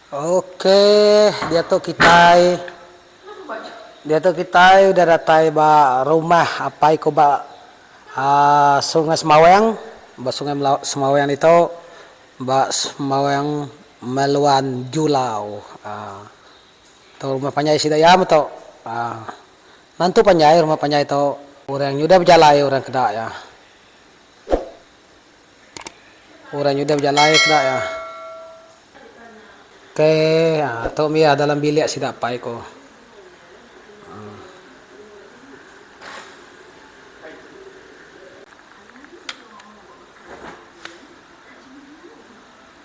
Ok diatu kitai diatu kitai udah datai ba rumah apai ku ba sungai semawang ba sungai semawang ditu ba semawang meluan julau tu rumah panjai sida iya metu nentu panjai rumah panjai tu orang nya udah bejalai orang ke enda iya. Orang nyudah bejalai ke dak iya. Ke aa tu mih dalam bilik sida apai ku. Aa.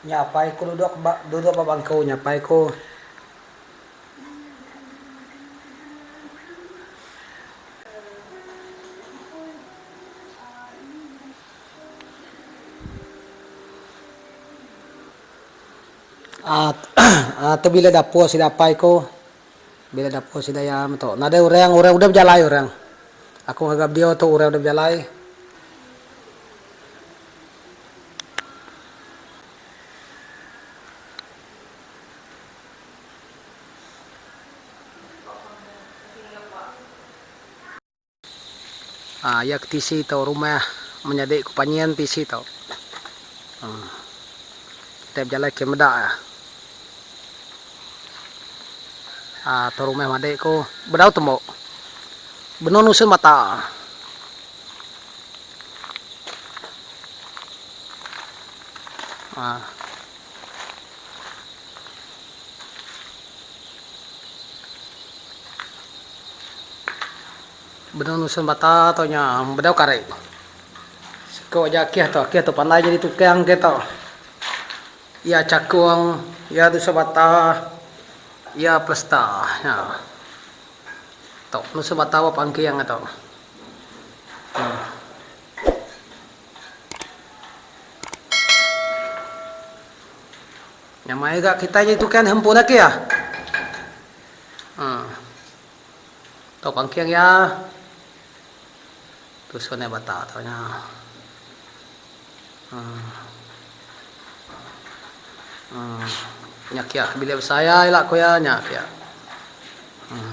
Nya apai ku duduk ba duduk ba bangku nya apai ku. Aaa tu bila dapur sida apai ku bila dapur sida iya meto nadai orang orang udah bejalai orang aku ngaga video tu orang udah bejalai. Haa iya ke tisi tu rumah menyadi ku panyin tisi tu. Haa kitai bejalai ke meda iya. Haa tu rumah madi ku bedau tembu. Benung nusa mata. Haa. Benung nusun bata tu nya bedau kari. Siko aja akih tu, akih tu pandai nyadi tukang ke tu. Iya chakung, iya nusun bata, iya plesta nya. Tu nusun bata ba pangking nya tu. Nyamai ga kitai nyadi tukai neh empu laki ah. Haa. Tau pangking ya. Tusun ya bata tau nya. Haa. Haa. Nya kia bilik besai ya ila ku ya nya kia. Haa.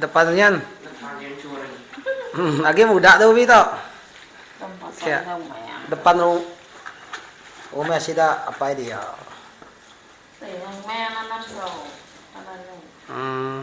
Depan nyen. Agi muda tu ubi tu. Depan rumah sida apai dia. Uhh.